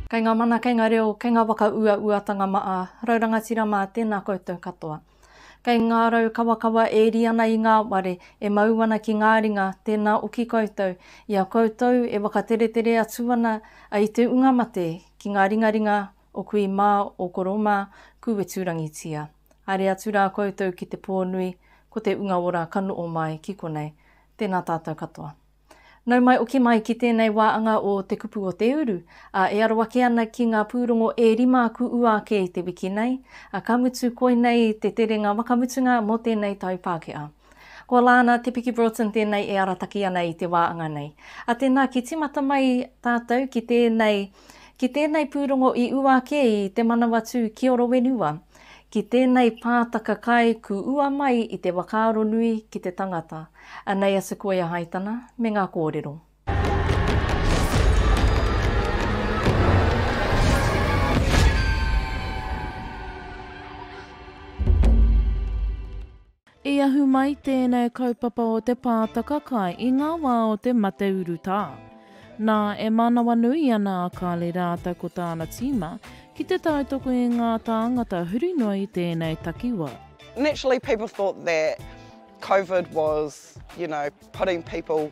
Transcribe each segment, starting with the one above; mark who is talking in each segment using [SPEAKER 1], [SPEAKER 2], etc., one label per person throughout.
[SPEAKER 1] Kei ngā mana, kei ngā reo, kei ngā waka uauatanga ma a rau rangatira ma tēnā koutou katoa. Kei ngā rau kawakawa e iri ana i ngā ware, e mau ana ki ngā ringa, tēnā oki koutou, i a koutou e wakateretere atu ana i te unga mate ki ngā ringaringa O kui mā, o koro mā, ku wetu rangitia. Haere atu rā koutou ki te pō nui, ko te unga ora ka no'o mai ki konei. Tēnā tātou katoa. Nau mai oki mai ki tēnei wā anga o Te Kupu o Te Uru, ā, e aro ake ana ki ngā pūrongo e rima aku ua ake i te wiki nei, ā, ka mutu koinei te terenga wakamutunga mō tēnei tau Pākehā. Ko Lana Te Piki Broughton tēnei e arataki ana i te wā anga nei. A tēnā ki timata mai tātou ki tēnei ki tēnei pūrongo i ua ake i Te Manawatū ki Orowenua, ki tēnei pātaka kai ku ua mai i te whakaaronui ki te tangata. Anei atu koia hai tana me ngā kōrero.
[SPEAKER 2] I ahu mai tēnei kaupapa o te pātaka kai i ngā wā o te mate urutā. Nā, e manawanui ana a Kale rātou ko tāna tīma ki te tautoko i ngā tāngata huri noa i tēnei takiwa. Naturally people
[SPEAKER 3] thought that Covid was, you know, putting people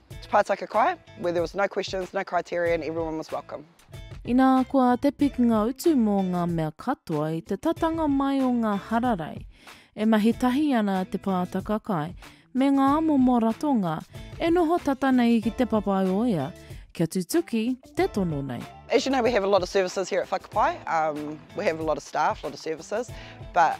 [SPEAKER 3] To pātaka kai, where there was no questions, no criteria and everyone was welcome. Inā koa
[SPEAKER 2] te pick ngā utu mō ngā mea katoa i te tatanga mai o ngā hararei. E mahi tahi ana te pātaka kai me ngā momo ratonga e noho tata nei ki te papai o ia kia tutuki te tono nei. As you know we have a lot of
[SPEAKER 3] services here at Whakapae, um, we have a lot of staff, a lot of services, but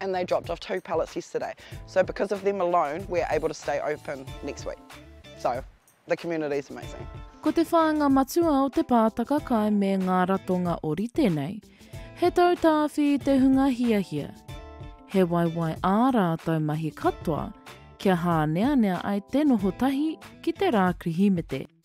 [SPEAKER 3] and they dropped off two pallets yesterday. So because of them alone, we're able to stay open next week. So the community is amazing. Ko te whāinga
[SPEAKER 2] matua o te pātaka kai me ngā ratonga orite nei, he tautāwhi i te hunga hiahia, he waiwai ā rātou mahi katoa kia hāneanea ai te noho tahi ki te rā Kirihimete.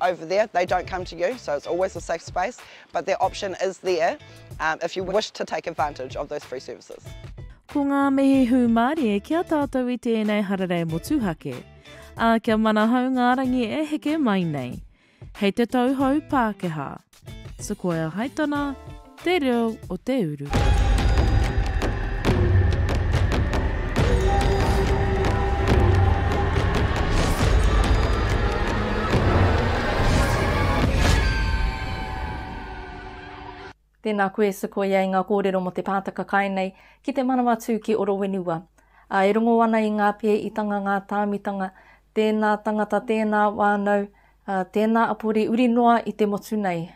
[SPEAKER 3] over there they don't come to you so it's always a safe space but that option is there um, if you wish to take advantage of those free services. Ko ngā
[SPEAKER 2] mihi hūmārie ki a tātou i tēnei hararei motuhake. Ā, kia manahau ngā rangi e heke mai nei. Hei te tauhou Pākehā. Sequoia Haitana, Te Reo o te Uru.
[SPEAKER 1] Tēnā koe Sequoia i ngā kōrero mō te pātaka kai nei ki te manawa tū ki Orowenua. Ā, e rongo ana i ngā pēitanga, ngā tāmitanga, tēnā tangata, tēnā wānau, Ā, tēnā a Pori uri noa i te motu nei,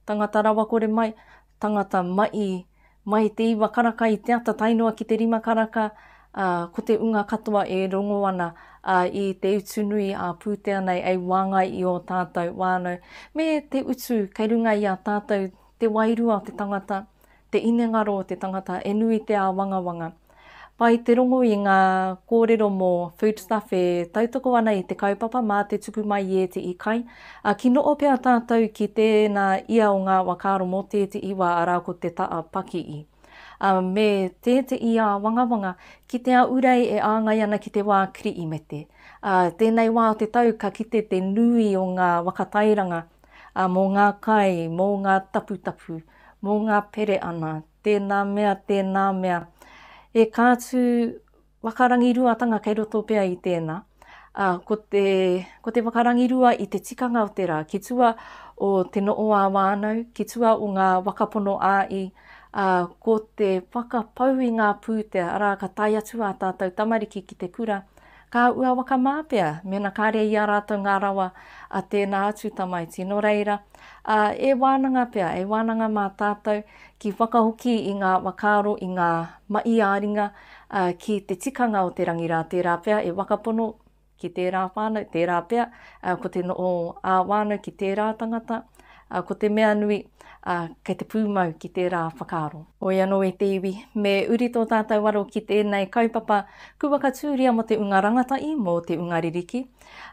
[SPEAKER 1] tangata rawakore mai, tangata maʻi mai te iwa karaka i te ata tae noa ki te rima karaka, ā, ko te unga katoa e rongo ana, ā, i te utu nui a pūtea nei ei wāngai i ō tātou whānau, me te utu kei runga i a tātou te wairua o te tangata, te inengaro o te tangata e nui te āwangawanga. Pai te rongo i ngā kōrero mō Foodstuff e tautoko ana i te kaupapa mā te tuku mai i ētehi kai, ā, ki noho pea tātou ki tēnā ia o ngā awa kāro mō tētehi wā arā ko te taʻa pakii, ā, me tētehi āwangawanga ki te ahurei e āngai ana ki te wā Kiriimete. Ā, tēnei wā o te tau ka kite te nui o ngā waka tairanga, ā, mō ngā kai, mō ngā taputapu, Mō ngā pere ana, tēnā mea, tēnā mea. E ka atu whakarangiruatanga kei roto pea i tēnā, ā, ko te, ko te whakarangirua i te tikanga o te rā, ki tua o te noʻoāwānau, ki tua o ngā whakapono āi, ā, ko te whakapau i ngā pūtea, arā, ka tae atu ā tātou tamariki ki te kura, Ka ua waka mā pea, mēnā kāre i a rātou ngā rawa a tēnā atu tamaiti. Nō reira, ā, e wānanga pea, e wānanga mā tātou ki whakahoki i ngā whakaaro, i ngā maī-ā-ringa, ā, ki te tikanga o te rangi rā, tērā pea e whakapono ki tērā whānau, tērā pea, ā, ko te noho ā-whānau ki tērā tangata, Ā, ko te mea nui, ā, kei te pūmau ki tērā whakaaro. Hoi anō e te iwi, me uri tō tātou aro ki tēnei kaupapa kua katūria mō te unga rangatahi, mō te unga ririki,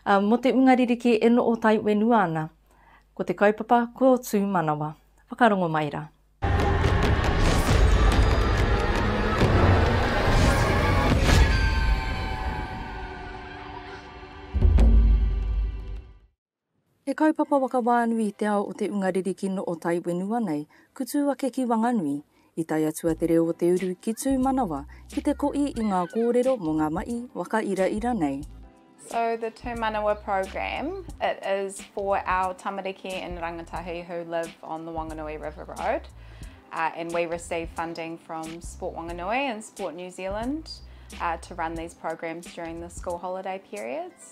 [SPEAKER 1] ā, mō te unga ririki e noho taiwenua ana. Ko te kaupapa kua o Tūmanawa. Whakarongo mai rā. He kaupapa waka wānui i te ao o te unga ririkino o Tai Whenua nei, kutū ake ki Wanganui. I tae atu a Te Reo o Te Uru ki Tūmanawa ki te koi i ngā kōrero mō ngā mahi whakairaira nei. So the
[SPEAKER 4] Tūmanawa program, it is for our tamariki and rangatahi who live on the Wanganui River Road and we receive funding from Sport Wanganui and Sport New Zealand to run these programs during the school holiday periods.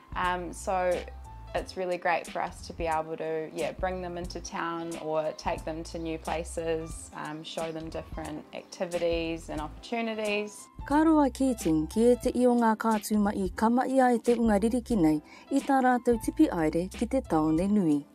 [SPEAKER 4] Um, so it's really great for us to be able to yeah, bring them into town or take them to new places, um, show them different activities and opportunities. Ka roa
[SPEAKER 1] Keating ki ētehi o ngā kātūma i kamaia e te unga ririki nei i tā rātou tipi aere ki te tāone nui.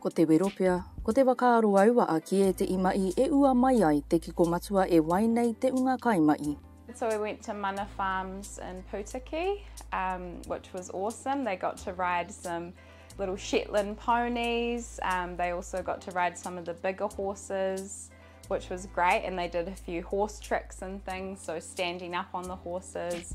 [SPEAKER 4] Ko te wero pea,
[SPEAKER 1] ko te wakaaro auaa ki eetei maii e ua mai ai te kiko matua e wai nei te unga kai maii. So we went to
[SPEAKER 4] Mana Farms in Putiki um which was awesome, they got to ride some little Shetland ponies um they also got to ride some of the bigger horses which was great and they did a few horse tricks and things so standing up on the horses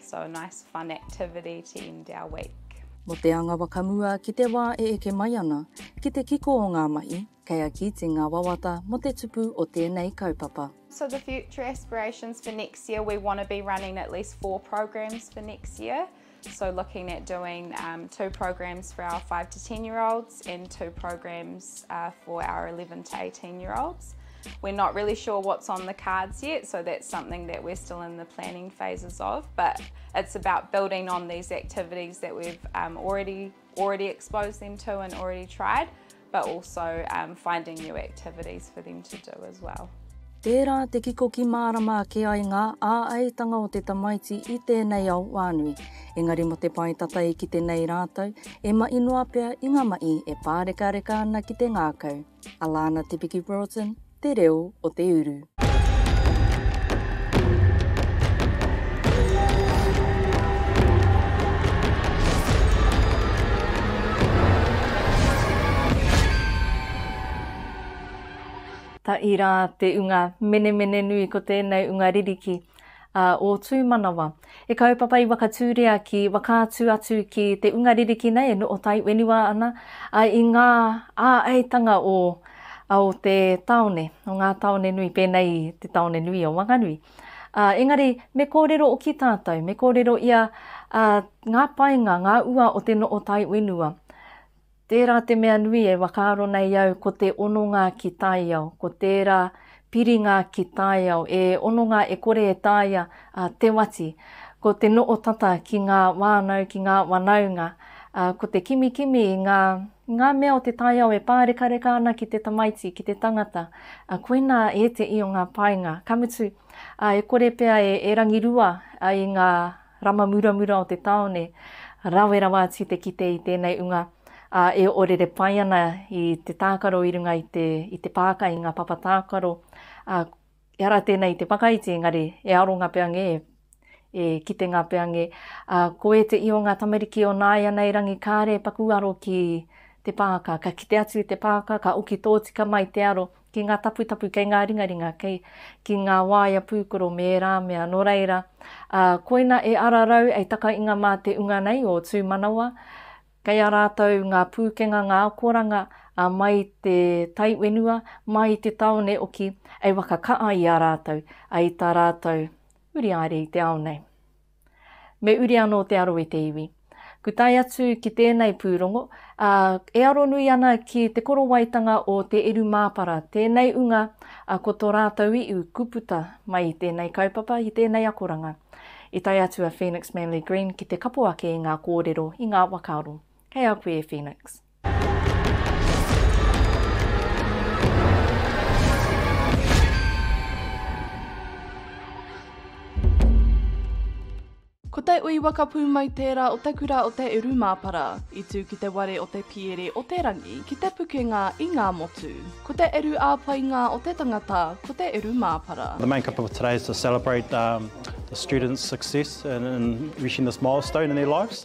[SPEAKER 4] So a nice fun activity to end our week. Mo te anga
[SPEAKER 1] wakamua ki te wā e eke mai ana, ki te kiko o ngā mahi, kei a Keating ngā wawata mo te tupu o tēnei kaupapa. So the future
[SPEAKER 4] aspirations for next year, we want to be running at least four programs for next year. So looking at doing um, two programs for our five to 10 year olds and two programs uh, for our 11 to 18 year olds. We're not really sure what's on the cards yet, so that's something that we're still in the planning phases of, but it's about building on these activities that we've um, already, already exposed them to and already tried, but also um, finding new activities for them to do as well. Tērā te
[SPEAKER 1] kikoki mārama ake ai ngā āaitanga o te tamaiti i tēnei ao wānui. Engari mo te pae tata e kite nei rātou, e mahi noa pea i ngā mahi e pārekareka ana ki te ngākau. Alana Te Piki Broughton, Te Reo o te Uru. Ta ira te unga menemene nui ko tenei unga ririki. a ō tūmanawa. He kaupapa i whakatūria ki whakaatu atu ki te unga ririki nei e noho taiwhenua ana i ngā āeitanga o o te tāone, o ngā tāone nui, pēnei i te tāone nui o Wanganui. Ā, engari, me kōrero ki tātou, me kōrero ia ā, ngā painga, ngā ua o te noho taiwhenua. Tērā te mea nui e whakaaro nei au ko te hononga ki taiao, ko tērā piringa ki taiao, e hononga e kore e taea a Te Wati, ko te noho tata ki ngā wānau, ki ngā wanaunga, ā, ko te kimikimi i ngā, i ngā mea o te taiao e pārekareka ana ki te tamaiti, ki te tangata, ā, koinā ēteʻi o ngā painga, ka mutu, ā, e kore pea e, e rangirua i ngā. Rama muramura o te tāone, rawe rawa atu te kite i tēnei unga, ā, e oʻorere pai ana i te tākaro i runga i te, i te pāka, i ngā papa tākaro, ā, ehara tēnei i te whakaiti, engari e aro ngā peange, e, e kite ngā peange. Ā, ko ēteʻi o ngā tamariki o nāianei rangi kāre paku aro ki te pāka, ka kite atu i te pāka, ka oki tōtika mai te aro, ki ngā taputapu kei ngā ringaringa, kei, ki ngā wāia pūkoro me ērā mea, nō reira, ā, koina e ara rau ei takainga mā te unga nei o Tūmanawa, kei a rātou ngā pūkenga ngā akoranga, ā, mai i te taiwhenua, mai i te tāone oki, ei waka kaʻa i a rātou, ai tā rātou uri aere i te ao nei. Me uri anō te aro i te iwi. Ku tae atu ki tēnei pūrongo, ā, e aro nui ana ki te korowaitanga o Te Eru Māpara tēnei unga ko to rātou iu ku puta mai i tēnei kaupapa, i tēnei akoranga. I tae atu a Phoenix Manley Green ki te kapo ake i ngā kōrero, i ngā wakaaro. Kei a koe e Phoenix.
[SPEAKER 5] Ko te ui waka pū mai tērā o te kura o Te Uru Māpara, i tū ki te ware o Te Piere o te Rangi, ki te pukenga i ngā motu. Ko te eru ā-painga o te tangata ko Te Uru Māpara. The main cup of today is
[SPEAKER 6] to celebrate the students' success in reaching this milestone in their lives.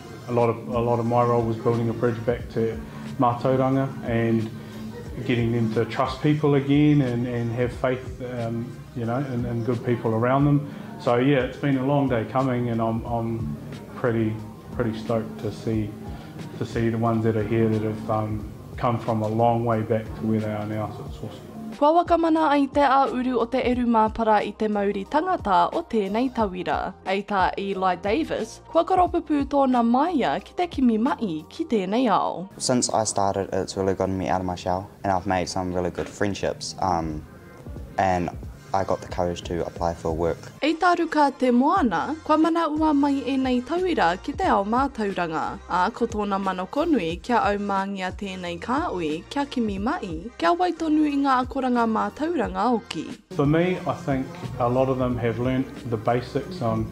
[SPEAKER 7] A lot of a lot of my role was building a bridge back to Matauranga and getting them to trust people again and and have faith um you know and and good people around them so yeah it's been a long day coming and I'm I'm pretty pretty stoked to see to see the ones that are here that have um come from a long way back to where they are now so it's awesome. Kua wakamana ai
[SPEAKER 5] te āuru o te eru māpara i te mauri tangata o tēnei tauira. Hei tā Eli Davis, Kua karopupū tōna māia ki te kimi maʻi ki tēnei ao. Since I started
[SPEAKER 8] it's really gotten me out of my shell and I've made some really good friendships um and I got the courage to apply for work. I tāruka te
[SPEAKER 5] moana, kua manaua mai ēnei tauira ki te ao mātauranga, ā, ko tōna manakonui kia aumāngia tēnei kāui, kia kimi maʻi, kia wai tonu i ngā akoranga mātauranga oki. For me, I
[SPEAKER 7] think a lot of them have learnt the basics on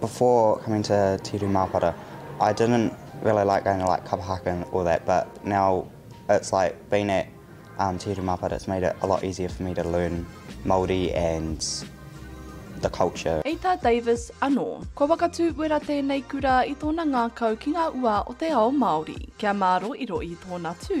[SPEAKER 8] Before coming to Tiru Mapara I didn't really like going to like Kapa Haka and all that but now it's like being at um, Tiru Mapara it's made it a lot easier for me to learn Māori and the culture. I tā Davis
[SPEAKER 5] anō, kua whakatūwera tēnei kura i tōna ngākau ki ngā ua o te ao Māori, kia māro i roa i tōna tū,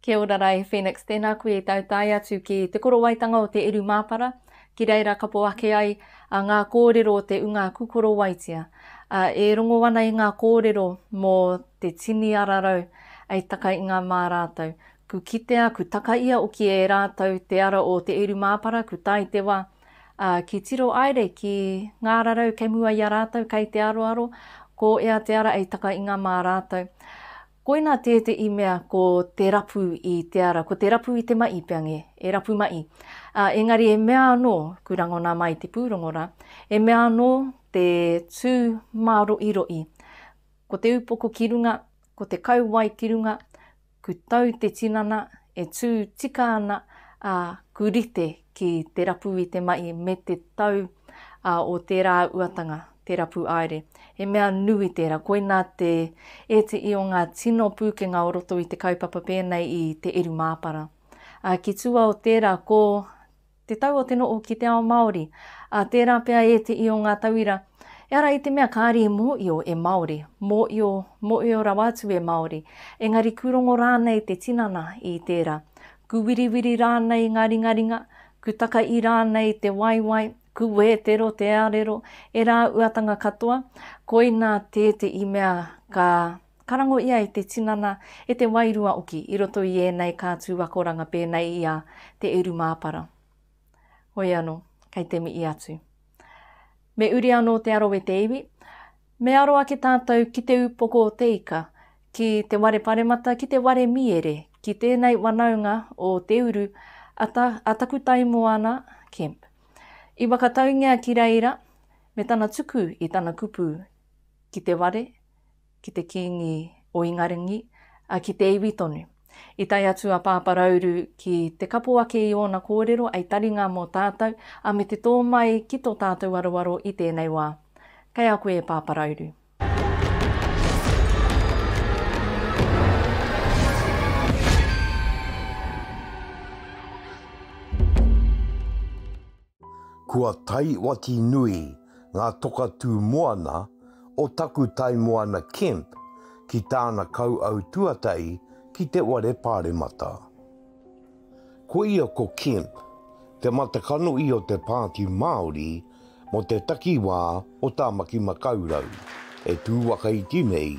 [SPEAKER 1] Kia ora ra e Phoenix, tēnā koe e tautae atu ki te korowaitanga o te eru māpara, ki reira kapo ake ai ngā kōrero o te unga kūkorowaitia, ā, e rongo ana i ngā kōrero mō te tini ararau hei takainga mā rātou. Ku kitea, ku takaia oki e rātou te ara o te eru māpara, ku tae te wa, ā, ki tiro aere ki ngā rarau kei mua i a rātou kei te aroaro, ko ea te ara hei takainga mā rātou. Koina tēteʻi mea ko te rapu i te ara, ko te rapu i te maʻi pea nge, e rapu maʻi. A, engari e mea anō, ku rangona mai te pūrongo ra, e mea anō te tū māroʻiroʻi, ko te upoko ki runga, ko te kauwae ki runga, ku tau te tinana e tū tika ana, a, ku rite ki te rapu i te mahi me te tau o tērā uatanga, te rapu aere. He mea nui tērā, koinā te ēteʻi o ngā tino pūkenga o roto i te kaupapa pēnei i Te Eru Māpara. Ki tua o tērā, ko Te Tau o te Noʻo ki te Ao Māori, a, tērā pea ēteʻi o ngā tauira, ehara i te mea kāre i mōʻio e Māori, mōʻio, mōʻio rawa atu e Māori, engari kūrongo rānei te tinana i tērā. Ku wiriwiri rānei ngā ringaringa, ku takaī rānei te waewae, ku wētero te arero, e rāuatanga katoa, koinā tēteī mea ka karango ia e te tinana, e te wairua oki, i roto i ēnei kātū akoranga pēnei i a Te Eru Māpara. Hoi ano, kei te mii atu. Me uri ano te aro e te iwi. Me aro ake tatou ki te upoko o te ika, ki te ware paremata, ki te ware miere, ki tenei wanaunga o te uru a ta, a taku tai moana, Kemp. I wakataungia ki reira, me tana tuku i tana kupu ki te ware, ki te kīngi o Ingarangi, ā, ki te iwi tonu. I tae atu a Pāpā Rauru ki te kapo ake i ōna kōrero hei taringa mō tātou, ā, me te tō mai ki tō tātou warowaro i tēnei wā. Kei a koe e Pāpā Rauru.
[SPEAKER 9] Kua taiwhati nui ngā toka tū moana o taku tai moana Kemp ki tāna kauau tuatahi ki te ware paremata. Koia ko Kemp, te matakanohi o te Pāti Māori mō te takiwā o Tāmaki Makaurau, e tū whakaiti nei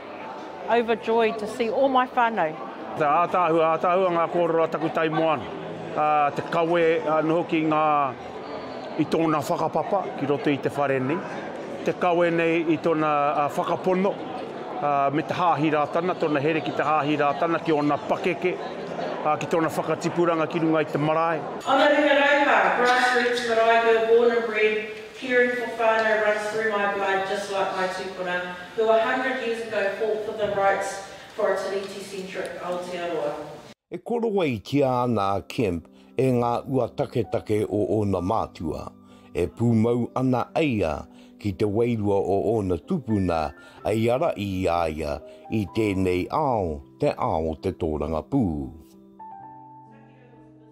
[SPEAKER 10] overjoyed to see all my whanau. Te ātaahua,
[SPEAKER 11] ātaahua ngā kōrero a taku tai moana, te kawe anō hoki ngā i tōna whakapapa ki roto i te whare nei, te kawe nei i tōna whakapono me te hāhi Rātana, tōna here ki te hāhi Rātana, ki ōna pakeke, ki tōna whakatipuranga ki runga i te marae. Honouring Araika,
[SPEAKER 12] grassroots marae girl born and bred Kieran Fofana runs through my blood just like my tupuna, who a hundred years ago fought for the rights for a Tiriti-centric Aotearoa. E
[SPEAKER 9] koroaitia ana a Kemp e ngā ua taketake o ōna mātua, e pūmau ana eia ki te wairua o ōna tupuna hei ara i a ia i tēnei ao, te ao o te tōrangapū.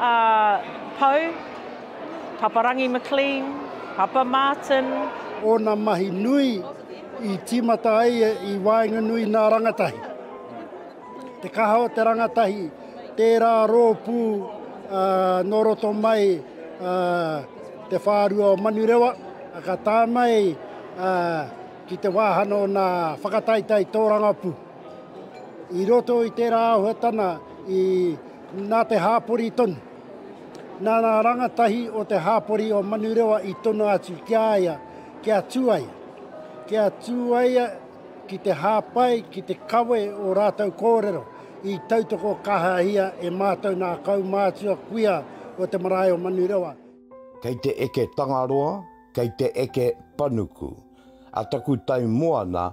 [SPEAKER 10] a Pou, Paparangi McLean, Papa Martin. Ōna mahi
[SPEAKER 13] nui i tīmata ai i waenganui nā rangatahi. Te kaha o te rangatahi, tērā rōpū nō roto mai te whārua o Manurewa, ka tae mai ki te wāhanga o nā whakataetae tōrangapū. I roto i tērā āhuatana i. Nā te hāpori tonu. Nā ngā rangatahi o te hāpori o Manurewa i tono atu ki a ia kia tū ai, kia tū ai ki te hāpai, ki te kawe o rātou kōrero i tautoko kāhahia e mātou nā kaumātua kuia o te marae o Manurewa. Kei te eke
[SPEAKER 9] Tangaroa, kei te eke Panuku. A taku tai moana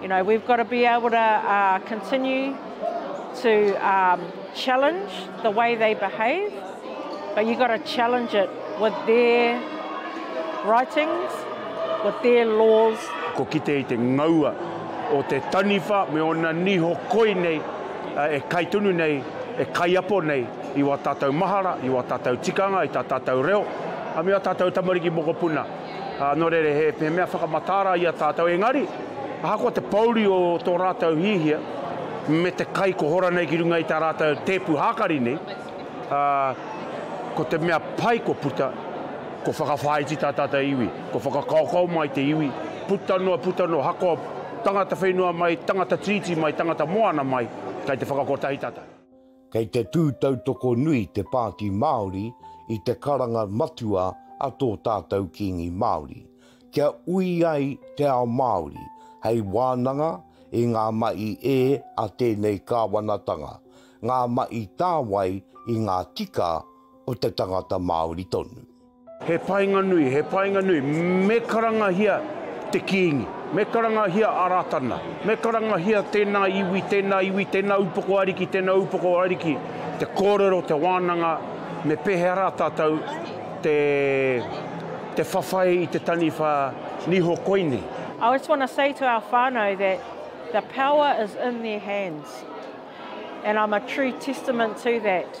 [SPEAKER 10] You know, we've got to be able to continue to challenge the way they behave, but you've got to challenge it with their writings, with their laws. Ko kite i te
[SPEAKER 11] ngaua o te taniwha me ona niho koi nei e kai tonu nei, e kai apo nei i wa tatou mahara, i wa tatou tikanga, i ta tatou reo, a me a tatou tamariki mokopuna. ā, nō reira he, he mea whakamataara i a tātou, engari, ahakoa te pōuri o tō rātou hiahia, me te kai kua hora nei ki runga i tā rātou tēpu hākari nei, ā, ko te mea pai kua puta, kua whakawhāiti tā tātou iwi, kua whakakaokao mai te iwi, puta noa, puta noa, ahakoa tangata whenua mai, tangata tiriti mai, tangata moana mai, kei te whakakotahi tātou. Kei te tū
[SPEAKER 9] tautoko nui te Pāti Māori i te karanga matua a tō tātou Kīngi Māori, kia ui ai te ao Māori hei wānanga i ngā mahi ē a tēnei kāwanatanga, ngā mahi tāwai i ngā tika o te tangata Māori tonu.
[SPEAKER 11] He painga nui, he
[SPEAKER 9] painga
[SPEAKER 11] nui, me karangahia te Kiingi, me karangahia a Ratana, me karangahia tēnā iwi, tēnā iwi, tēnā upoko ariki, tēnā upoko ariki, te kōrero, te wānanga, me pēhea rā tātou te, te whawhai i te taniwha niho koinei. I just want to say
[SPEAKER 10] to our whanau that the power is in their hands and I'm a true testament to that.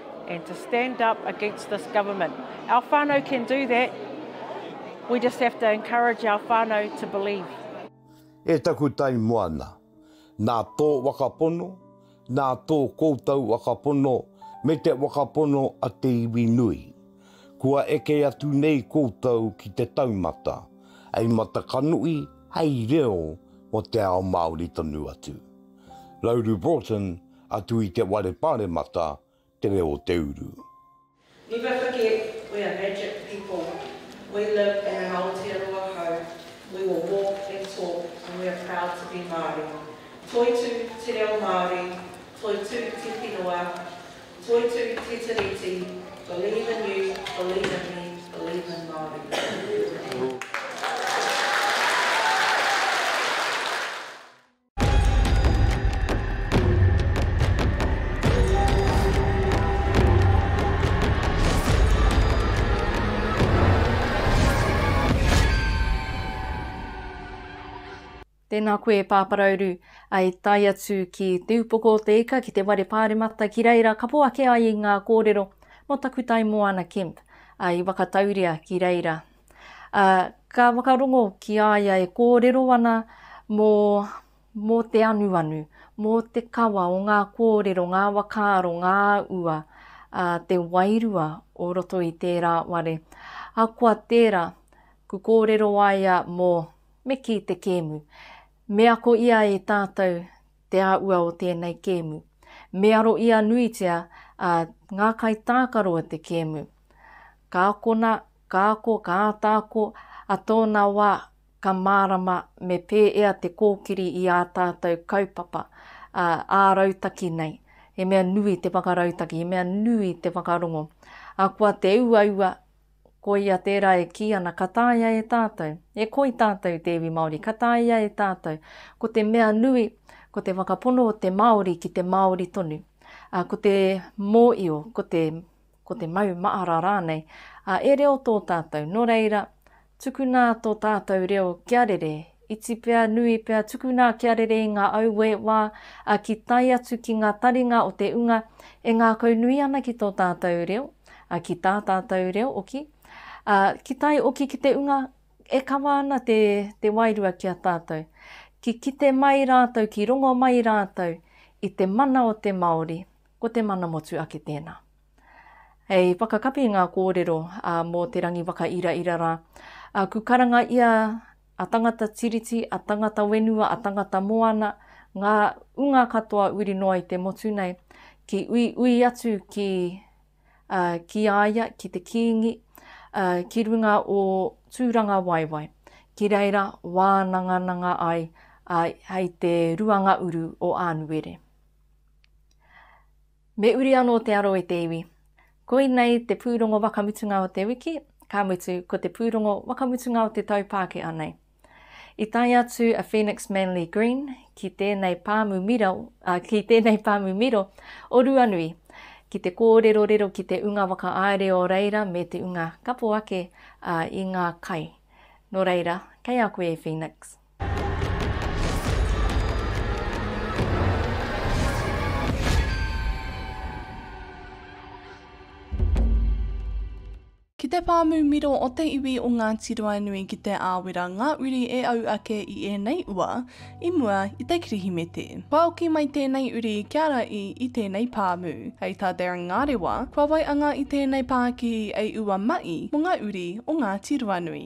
[SPEAKER 10] and to stand up against this government. Our whānau can do that, we just have to encourage our whānau to believe. E
[SPEAKER 9] taku tai moana, nā tō wakapono, nā tō koutou wakapono me te wakapono a te iwi nui. Kua eke atu nei koutou ki te taumata, hei matakanohi, hei reo mo te ao Māori tonu atu. Lauru Broughton, Atu i te ware paremata te reo o te uru. Never
[SPEAKER 12] forget we are magic people, we live in an Aotearoa hau, we will walk and talk and we are proud to be Māori. Toitu te reo Māori, toitu te whenua, toitu te tiriti, believe in you, believe in me, believe in Māori.
[SPEAKER 1] Tēnā koe Pāparauru, I tae atu ki Te Upoko o te Ika, ki te Ware Pāremata ki reira ka po ake ai i ngā kōrero mo taku tai Moana Kemp, I Wakatauria ki reira. Ā, ka whakarongo ki a ia e kōrero ana mō, mō te anuanu, mō te kawa o ngā kōrero, ngā whakaaro, ngā ua, ā, te wairua o roto i tērā ware. Ahakoa tērā, ku kōrero a ia mō, me kī te kēmu. Me ako ia e tātou te āhua o tēnei kēmu. Me aro ia nuitia, ā, ngā kaitākaro o te kēmu. Ka akona, Ka ako, ka āta ako, a tōna wā ka mārama me pēea te kōkiri i ā tātou kaupapa, ā, ā rautaki nei. He mea nui te whakarautaki, he mea nui te whakarongo. Ahakoa te uaua, koia tērā e kī ana ka taea e tātou, e koi tātou te iwi Māori, ka taea e tātou. Ko te mea nui, ko te whakapono o te Māori ki te Māori tonu, ā, ko te mōio, ko te ko te mau maara rānei, ā, e reo tō tātou, nō reira, tukuna tō tātou reo kia rere, iti pea, nui pea, tukuna kia rere i ngā auē wā, ā, ki tae atu ki ngā taringa o te unga e ngākau nui ana ki tō tātou reo, ā, ki tā tātou reo hoki, ā, ki tae hoki ki te unga e kawa ana te, te wairua ki a tātou, ki kite mai rātou, ki rongo mai rātou i te mana o te Māori, Ko te mana motu ake tēnā. Hei whakakapi ngā kōrero mō Te Rangiwakairaira rā, aku karanga i a a tangata tiriti, a tangata wenua, a tangata moana, ngā ūnga katoa wiri noa i te motu nei, ki uiui atu ki a, ki a ia, ki te Kīngi, a, ki runga o Tūrangawaewae, ki reira wānangananga ai a, hei te ruanga uru o Ānuere. Me uri anō te aro i te iwi. Koinei te pūrongo wakamutunga o te wiki, ka mutu, ko te pūrongo wakamutunga o te tau Pākehā nei. I tae atu a Phoenix Manly Green ki tēnei pāmu miro, uh, ki tēnei pāmu miro o Ruanui, ki te kōrerorero ki te unga whakaaere o reira me te unga kapo ake uh, i ngā kai. Nō reira, kei a koe e Phoenix.
[SPEAKER 5] Ki te pāmu miro o te iwi o Ngāti Ruanui ki Te Āwera ngā uri e au ake i ēnei ua i mua i te Kirihimete. Kua oki mai tēnei uri kia raʻi i tēnei pāmu. Hei tā Darren Ngarewa, kua waiʻanga i tēnei pākihi ei ua maʻi mō ngā uri o Ngāti Ruanui.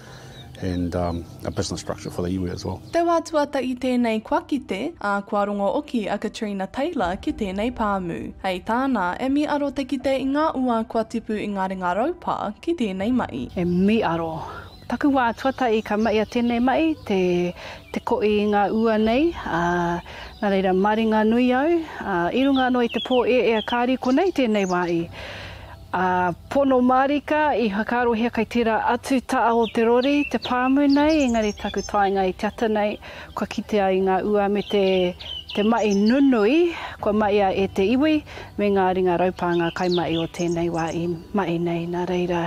[SPEAKER 14] and um a business structure for the iwi as well. Tau atu ata i tēnei
[SPEAKER 5] kua kite, ā, kua rongo oki a Katrina Taylor ki tēnei pāmu. Hei tāna, e mīaro te kite i ngā ua kua tipu i ngā ringa raupā ki tēnei maʻi. E mīaro.
[SPEAKER 15] Taku wā atu ata i ka maʻia tēnei maʻi, te, te koʻi i ngā ua nei, ā, nā reira, maringa nui au, ā, i runga anō i te pō ēea kāri, konei tēnei wā i. Ā, pono mārika i whakaarohia kei tērā atu taha o te rori te pāmu nei, engari taku taenga i te ata nei, kua kitea i ngā ua me te te mahi nunui kua mahia e te iwi me ngā ringa raupā ngā kaimahi o tēnei wā i mahi nei, nā reira,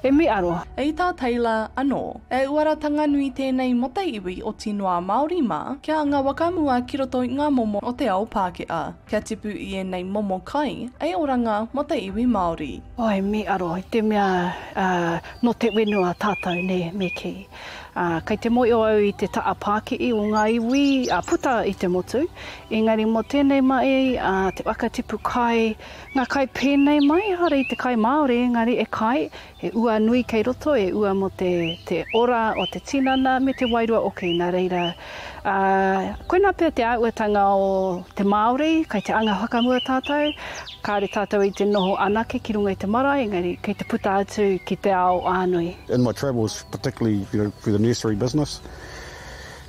[SPEAKER 15] e mīharo. I tā Taylor
[SPEAKER 5] anō, he uaratanga nui tēnei mō te iwi oti noa Māori mā, kia anga whakamua ki roto i ngā momo o te ao Pākehā. Kia tipu i ēnei momo kai, ei oranga mō te iwi Māori. Oi, me aro,
[SPEAKER 15] i te mea, ā, nō te whenua tātou, nē, me kī. Ā, kei te mōhio au i te taha pākihi o ngā iwi, ā, puta i te motu. Engari mō tēnei mai, ā, te whakatipu kai, ngā kai pēnei mai, ehara i te kai Māori, engari e kai, He ua nui kei roto, he ua mō te, te ora o te tinana me te wairua oke, nā reira, ā, koinā pea te āuatanga o te Māori, kei te anga whakamua tātou, kāore tātou i te noho anake ki runga i te marae, engari kei te puta atu ki te ao ānui. In my travels,
[SPEAKER 14] particularly, you know, through the nursery business,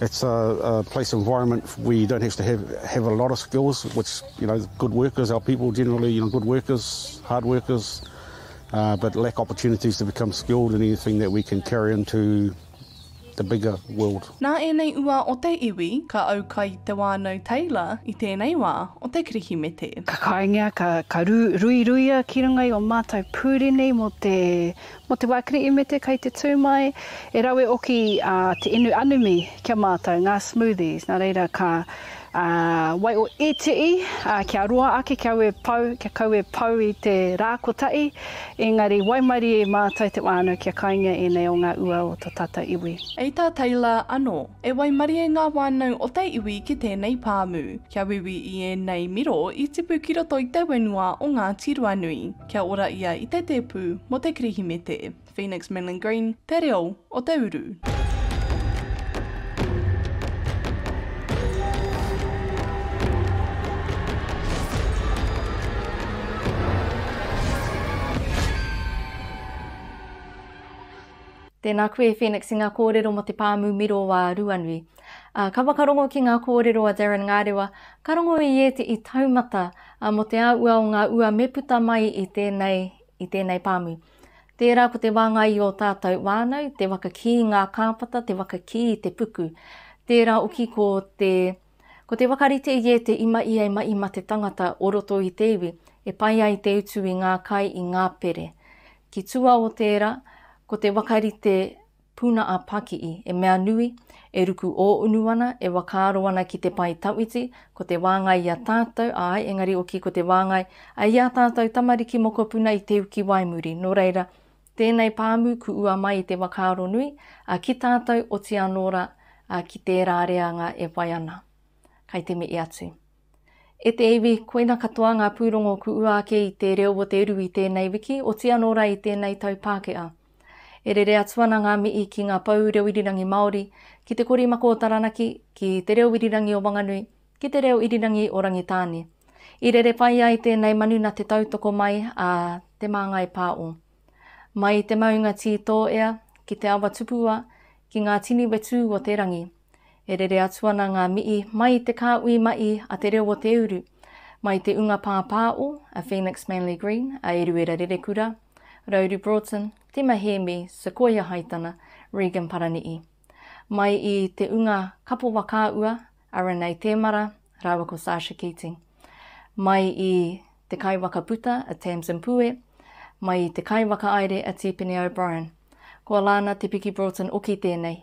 [SPEAKER 14] it's a, a place environment where you don't have to have, have a lot of skills, which, you know, good workers, our people generally, you know, good workers, hard workers, but lack opportunities to become skilled in anything that we can carry into the bigger world. Nā ēnei ua
[SPEAKER 5] o te iwi ka aukai te wānau teila i tēnei wā o te Kirihimete. Ka kaingia, ka,
[SPEAKER 15] ka rū, ruiruia ki runga i o mātou pūrini mō te, mō te wā Kirihimete kei te tū mai. E rawe oki a te inu anumi kia mātou, ngā smoothies, nā reira ka, Ā, wai o Itiʻi, ā, kia roa ake, kia ue pau, kia kaue pau i te rā kotaʻi, engari waimarie e mātou te wānau kia kaingia ēnei o ngā ua o to tātou iwi. Hei tā Taylor
[SPEAKER 5] anō, e waimarie ngā wānau o te iwi ki tēnei pāmu, kia wiwi i ēnei miro i tipu ki roto i te wenua o Ngāti Ruanui, kia ora ia i te tēpu mō te Kirihimete. Phoenix Milne Green, te reo o te uru.
[SPEAKER 1] Tēnā koe, Phoenix, i ngā kōrero mō te pāmu miro wā Ruanui. Uh, ka wakarongo ki ngā kōrero a Darren Ngārewa, ka rongo i e te i taumata uh, mō te āua o ngā ua me puta mai i tēnei, i tēnei pāmu. Tērā ko te wāngai i ō tātou whānau, te waka ki ngā kāpata, te waka ki te puku. Tērā oki ko te, ko te wakarite i e te ima i e ma ima te tangata o roto i te iwi, e pai ai te utu i ngā kai i ngā pere. Ki tua o tērā, ko te wakarite Puna a Pakii, e mea nui, e ruku ōunu ana, e wakaaro ana ki te pae tawhiti, ko te wāngai i a tātou, āe, engari oki ko te wāngai, a i ā tātou tamariki mokopuna i te uki waimuri, nō reira, tēnei pāmu kuua mai i te wakaaro nui, a ki tātou, oti anō rā, a ki tērā reanga e whai ana. Kai te mihi atu. E te iwi, koina katoa ngā pūrongo kuʻua ake i te reo o te uru i tēnei wiki, oti anō rā i tēnei tau Pākehā. E rere atu ana ngā mihi ki ngā pou reo irirangi Māori, ki te korimako o Taranaki, ki te reo irirangi o Wanganui, ki te reo irirangi o Rangitāne. I rere pai ai tēnei manu nā te tautoko mai a Te Māngai Pā o. Mai i te maunga Tītōea, ki te awa Tupua, ki ngā tini wetū o te rangi. E rere atu ana ngā mihi mai i te kāhui mahi a Te Reo o Te Uru, mai i te Unga Pāpāo, a Phoenix Manly Green, a Eruera Rerekura, Rauri Broughton, Tima Hēmi, Sequoia Haitana, Regan Parani'i. Mai i te Unga Kapowa Kāua, a Renee Tēmara, rāua ko Sasha Keating. Mai i te kaiwaka puta, a Tamsin Pue, mai i te kaiwaka aere, a Tīpene O'Brien. Ko Alana Te Piki Broughton oki tēnei,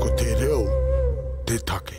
[SPEAKER 9] Ko te reo te take.